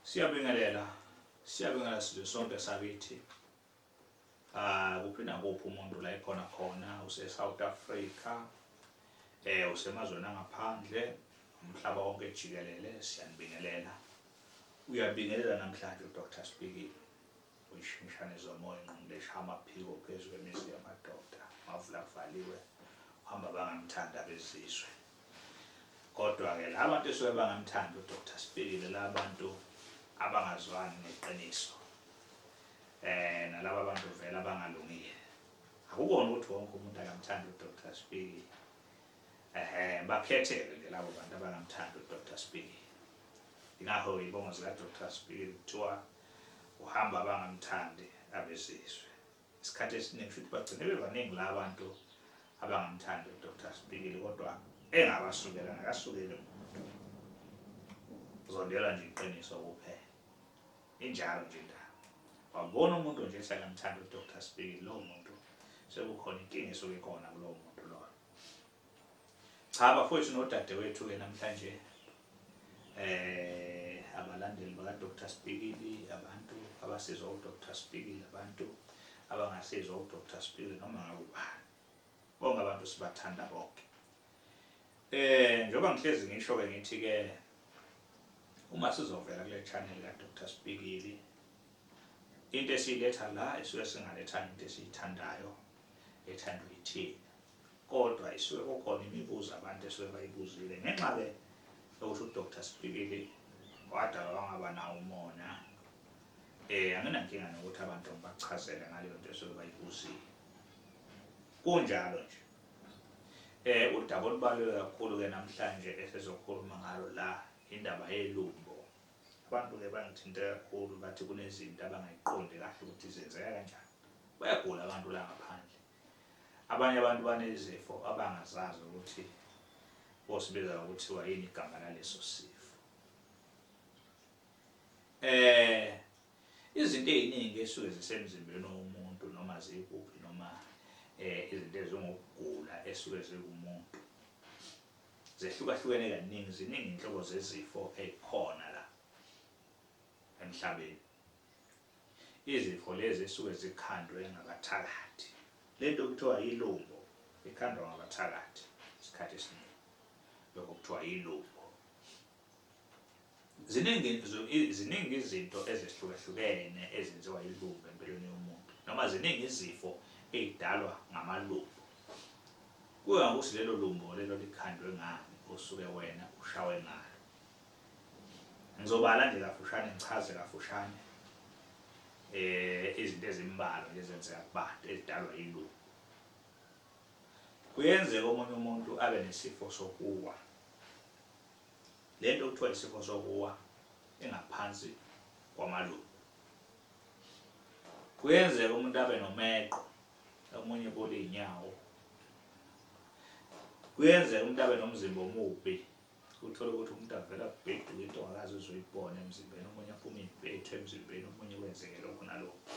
Siyabingelela, siyabingelela sizwe sonke sakithi. Ah, kuphi nakuphi umuntu la ekhona khona use-South Africa, eh usemazweni angaphandle, umhlaba wonke jikelele siyanibingelela. Uyabingelela namhlanje uDr. Sibikile. Uyishimshane zomoya ingqondo eshaya amaphiko phezu kwemizi yamadoda. Amavula kuvaliwe, uhamba abangamthandi abezizwe. Kodwa-ke laba bantu esuke bangamthandi uDr Sibhikile, laba bantu abangazwani neqiniso eh nalaba bantu vele abangalungile akukona ukuthi wonke umuntu akamthanda uDr Sibhikile ehe bakhetheke ke labo bantu abangamthanda uDr Sibhikile ingakho ibongo zika Dr Sibhikile kuthiwa uhamba abangamthandi abesizwe isikhathi esiningi futhi bagcine bebaningi la bantu abangamthandi uDr Sibikile kodwa engabasukela nakasukele umuntu uzondela nje iqiniso kuphela injalo nje indaba wabona umuntu nje ethi akamthandi uDr Sibikile lowo muntu sekukhona inkinga esuke khona kulowo muntu loyo Cha bafowethu nodadewethu ke namhlanje eh abalandeli baka Dr Spikili abantu abasizwa u Dr Spikili abantu abangasizwa u Dr Spikili noma ngakubani bonke abantu sibathanda bonke eh njengoba ngihlezi ngisho ke ngithi ke uma sizovela kule channel ka Dr Spikili into esiletha la esuke singaletha into esiyithandayo ethandwa yithina Kodwa isuke kukhona imibuzo abantu esuke bayibuzile ngenxa-ke yokuthi uDr Sipikili wadalwa wangaba nawo umona. Eh anginankinga nokuthi abantu ngibachazele ngaleyo nto esuke bayibuzile. Kunjalo nje. Eh udaba olubaluleke kakhulu-ke namhlanje esizokhuluma ngalo la indaba yelumbo. Abantu-ke bangithinta kakhulu bathi kunezinto abangayiqondi kahle ukuthi zenzeka kanjani. Bayagula abantu la ngaphandle. Abanye abantu banezifo abangazazi ukuthi bosibiza ngokuthiwa yini igama laleso sifo. Eh izinto eziningi esuke zisemzimbeni womuntu noma zikuphi noma eh izinto ezingokugula esuke zikumuntu zehlukahlukene kaningi ziningi inhlobo zezifo ezikhona la emhlabeni Izifo lezi ezisuke zikhandwe ngabathakathi. Le nto kuthiwa yilumbo ikhandwa ngabathakathi isikhathi esiningi. Lokho kuthiwa yilumbo. Ziningi ziningi izinto ezihlukahlukene ezenziwa yilumbo empilweni yomuntu noma ziningi izifo ezidalwa ngamalumbo. Kuya ngokuthi lelo lumbo lelo likhandwe ngani osuke wena ushawe ngalo. Ngizobala nje kafushane ngichaze kafushane eh izinto ezimbalwa nje ezenzeka kubantu ezidalwa yilungu. Kuyenzeka omunye umuntu abe nesifo sokuwa. Lento kuthiwa isifo sokuwa engaphansi kwamalungu. Kuyenzeka umuntu abe nomeqo omunye kulinyawo. Kuyenzeka umuntu abe nomzimba omubi Uthole ukuthi umuntu avela kubheduka into ongakaze uzoyibona emzimbeni, omunye aphume impethu emzimbeni, omunye kwenzeke lokho nalokho.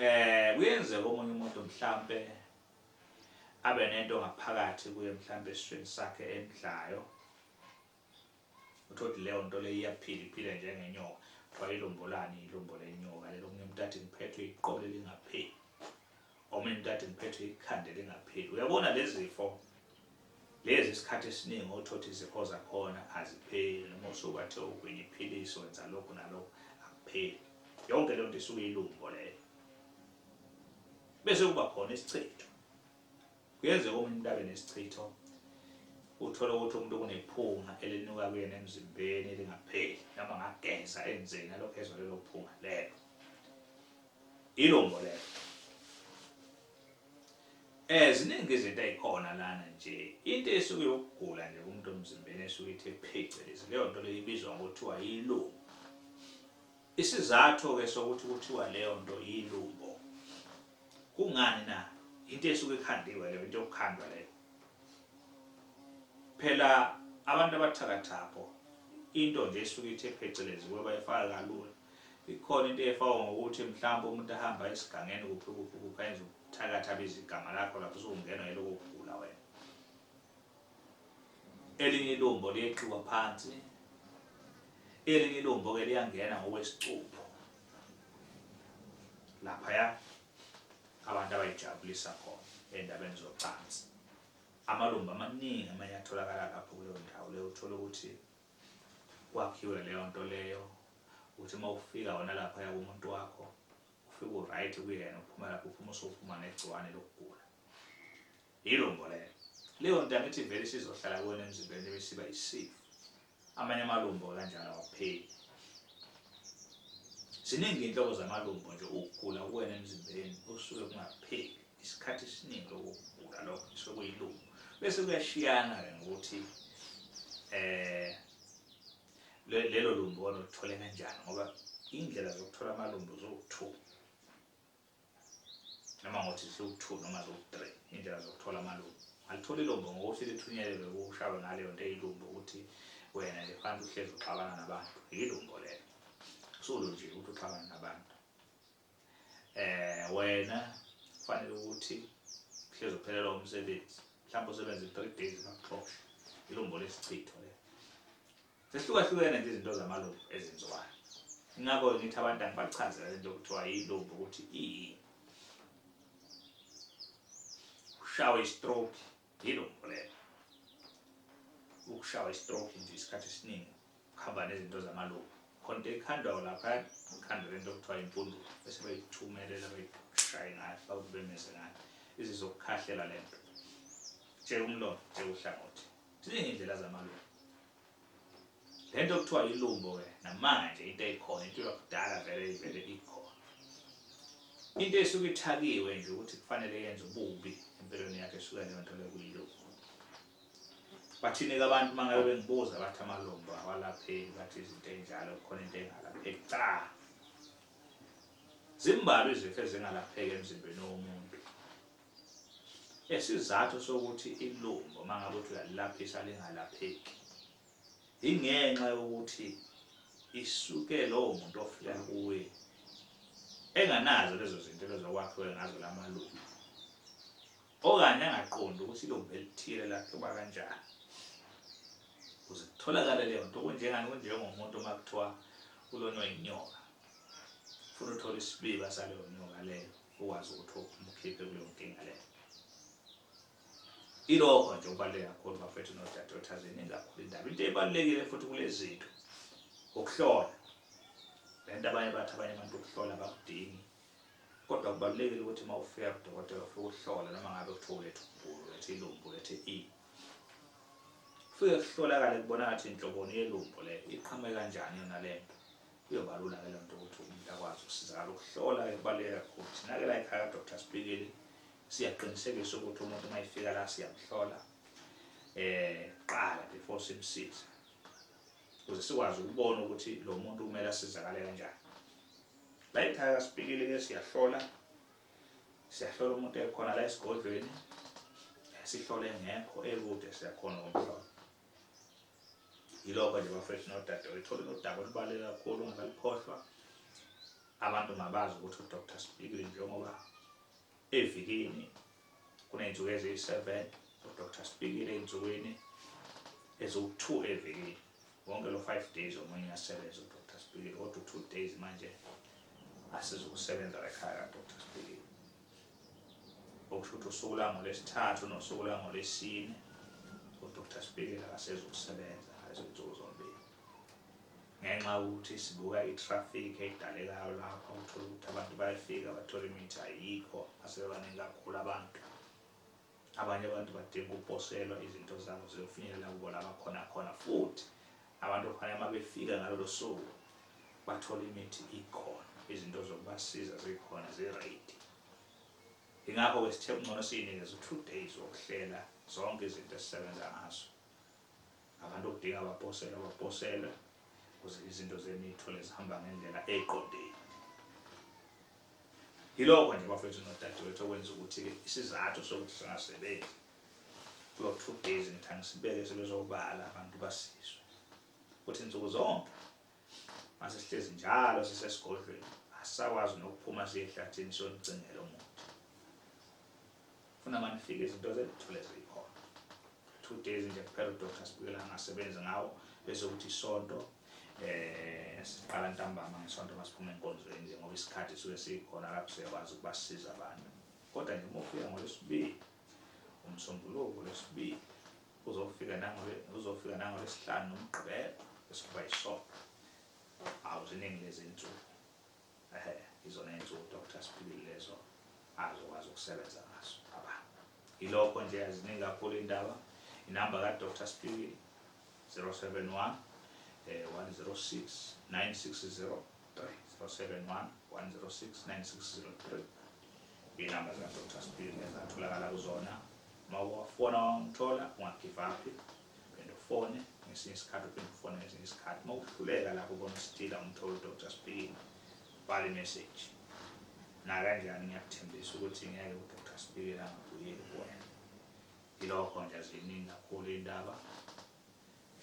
Eh kuyenzeka omunye umuntu mhlambe abe nento ngaphakathi kuye mhlambe esisweni sakhe emdlayo Uthole ukuthi leyo nto leyo iyaphila iphile njengenyoka. Kuthiwa ilombolani ilombo lenyoka lelo omunye umuntu athi ngiphethwe iqolo elingapheli. Omunye umuntu athi ngiphethwe ikhanda elingapheli. Uyabona lezi zifo lezi isikhathi esiningi othothi izifo zakhona azipheli noma usuke athe ugwinya iphilisi wenza lokhu nalokhu akupheli yonke lento isuke ilumbo leyo bese kuba khona isichitho Kuyenzeka umuntu abe nesichitho uthole ukuthi umuntu kunephunga elinuka kuyena emzimbeni elingapheli noma ngageza enzeni alokhu ezwa lelo phunga lelo ilombo lelo eh ziningi izinto ezikhona lana nje into esuke yokugula nje kumuntu omzimbeni esuke ithe phecelezi leyo nto leyo ibizwa ngokuthiwa yilombo Isizatho-ke sokuthi kuthiwa leyo nto yilumbo, kungani na? Yinto esuke ikhandiwe leyo, into yokukhandwa leyo. Phela abantu abathakathapho, into nje esuke ithe phecelezi kuwe bayifaka kalula. Ikhona into efakwa ngokuthi mhlawumbe umuntu ahamba esigangeni kuphi kuphi kuphi ayenza ubuthakathi abize igama lakho lapho usungenwa yiloko kugula wena. Elinye ilumbo liyeqiwa phansi, elinye ilumbo-ke liyangena ngokwesicupho laphaya abantu abayijabulisa khona endabeni zocansi. Amalumbo amaningi amanye atholakala lapho kuleyo ndawo leyo, uthole ukuthi kwakhiwe leyo nto leyo ukuthi uma ufika wona laphaya kumuntu wakho ufike uright kuyena uphuma lapho uphuma usuphuma negciwane lokugula Yilo mbolelo. Leyo ntanga ithi vele isizohlala kuwena emzimbeni bese isiba yisifo. Amanye amalumbo kanjalo awapheli. Ziningi iy'nhlobo zamalumbo nje ukugula kuwena emzimbeni okusuke kungapheli isikhathi esiningi lokugula lokho kusuke kuyilumbo. Bese kuyashiyana-ke ngokuthi eh lelo lumbo olithole kanjani ngoba iy'ndlela zokuthola amalumbo ziwu-two. noma ngothi ziwu-two noma ziwu-three iy'ndlela zokuthola amalumbo alitholi ilumbo ngokuthi lithunyelelwe kushaywe ngaleyo nto eyilumbo ukuthi wena nje phansi uhlezi uxabana nabantu yilumbo lelo usulu nje ukuthi uxabana nabantu eh wena kufanele ukuthi uhlezi uphelelwa umsebenzi mhlawumbe usebenza i-three days bakuxoshe ilumbo lesichitho lelo Zihlukahlukene nje izinto zamalubu ezenziwayo. Ngakho ngithi abantu angibachazela lento okuthiwa yilubu ukuthi iyini. Ushawe istroke yilumbu lelo. Ukushawa istroke nje isikhathi esiningi kuhamba nezinto zamalubu. Khonto ekhandwayo lapha ikhandwa lento okuthiwa impundulo bese beyithumelela beyishaye ngayo bakubemeze ngayo izizokukhahlela lento. Tshela umlomo, tshela uhlangothi. Ziningi indlela zamalungu. Le nto kuthiwa ilumbo ke namanje into eyikhona into yakudala vele ivele ikhona. Into esuke ithakiwe nje ukuthi kufanele yenze ububi empilweni yakhe esuke leyo nto lekuyilumbo. Bathini ke abantu mangabe bengibuza bathi amalumbo awalapheki bathi izinto enjalo khona into engalapheki cha. Zimbalwa izifo ezingalapheki emzimbeni womuntu. Isizathu sokuthi ilumbo uma ngabe uthi uyalilaphisa lingalapheki ingenxa yokuthi isuke lowo muntu ofika kuye enganazo lezo zinto lezokwakhiwe ngazo la malungu okanye angaqondi ukuthi ilumbu elithile lakhe uba kanjani kuze kutholakale leyo nto kunjengani kunjengomuntu uma kuthiwa kulonywa inyoka funa uthole isibiba saleyo nyoka leyo ukwazi ukuthi umkhiphe kuleyo nkinga leyo ilokho nje okubaluleke kakhulu bafethu nodadewethu aziningi kakhulu indaba into ebalulekile futhi kulezi zinto ukuhlola le nto abanye bathi abanye abantu ukuhlola bakudingi kodwa kubalulekile ukuthi uma ufika kudokotela ufike uhlola noma ngabe kuthiwa ulethe umbulu ulethe ilumbu ulethe i ufike kuhlolakale kubona ngathi inhloboni yelumbu le iqhamuke kanjani yona le nto Kuyobalula ke lento ukuthi umuntu akwazi ukusizakala ukuhlola kubaluleke kakhulu. Thina ke la ekhaya Dr. Sibhikili siyaqinisekisa ukuthi umuntu uma efika la siyamhlola eh qala before simsize. Ukuze sikwazi ukubona ukuthi lo muntu kumele asizakale kanjani. La ekhaya Sibhikili ke siyahlola siyahlola umuntu ekhona la esigodlweni sihlole ngekho ekude siyakhona ukumhlola. yilokho nje bafethu nodadewethu ithole nodaba olubaluleke kakhulu ungakalukhohlwa abantu mabazi ukuthi udr sibikile njengoba evikini kuney'nsuku eziyi-seven udr sibikile ey'nsukwini eziwu-two evikini wonke lo five days omunye uyasebenza udr sibikile kodwa u-two days manje asizukusebenza la ekhaya kadr sibikile okusho ukuthi usuku lwangolwesithathu nosuku lwangolwesine udr spikela akasezokusebenza izinsuku zombili ngenxa yokuthi sibuka i-traffic edalekayo lapho uthola ukuthi abantu bayafika bathola imithi ayikho asebaningi kakhulu abantu Abanye abantu badinga ukuposelwa izinto zabo ziyofinyelela kubo la bakhona khona, futhi abantu okufanele uma befika ngalolo suku bathole imithi ikhona, izinto zokubasiza zikhona ziredi. Ingakho-ke sithe kungcono siyinikeze u-two days wokuhlela zonke izinto esisebenza ngazo Abantu okudinga abaphosele abaphosele ukuze izinto zenu ithole zihamba ngendlela eqondile. Yilokho nje bafethu nodadewethu okwenza ukuthi isizathu sokuthi singasebenzi kulo two days ngithanga sibeke sebezobala abantu basizwe ukuthi nsuku zonke Mase sihlezi njalo sisesigodlweni, asisakwazi nokuphuma siye ehlathini siyonigcingela umuthi. Funa manifike izinto zethu zikhona. Two days nje kuphela udoctor sibikela angasebenzi ngawo bese kuthi isonto eh siqala ntambama ngesonto masiphume enkonzweni nje ngoba isikhathi suke sikhona lapho siyakwazi ukubasiza abantu. Kodwa nje uma ufika ngolwesibili umsombuluko lwesibili uzofika nangole uzofika nangole sihlanu nomgqibelo esikhomba isonto awu ziningi lezi nsuku ehe izona insuku doctor siphilile lezo azokwazi ukusebenza ngaso baba ilokho nje aziningi kakhulu indaba inamba ka doctor siphilile 071 eh 106 9603 071 106 9603 inamba zika doctor siphilile zatholakala kuzona Uma uwafona wangithola ungagive up phinde ufone ngesinye isikhathi uphinde ufone ngesinye isikhathi uma uhluleka lapho ubona usithile umthole udr spini bhala imessage nakanjani ngiyakuthembisa ukuthi ngeke udr spini angabuyeli kuwena ilokho nje ziningi kakhulu iy'ndaba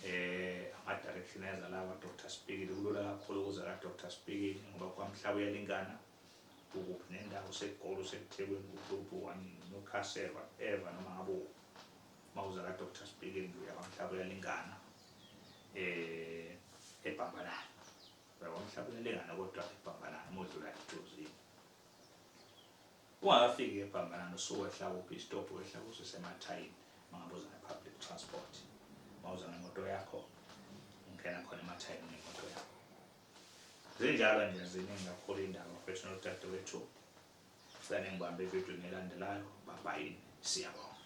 eh ama-direction eza lawa dr spikile kulula kakhulu ukuza kadr spikile ngoba kwamhlaba uyalingana Ukuphi nendawo segoli usethekwini kuhlupho wani newcastle whatever noma ngabe ukuphi uma uza ka doctor speaking uyabamhlaba uyalingana eh ebhambalana uyabamhlaba uyalingana kodwa ebhambalana uma udlula ejozini ungakafiki ebhambalana usuwehla kuphi istop wehla kuso semathayini uma ngabe uza nge-public transport uma uza ngemoto yakho ungena khona emathayini ngemoto yakho Zinjalo nje ziningi kakhulu indaba mfethu nodadewethu. Sane ngibambe evidweni elandelayo. Bye bye. Siyabonga.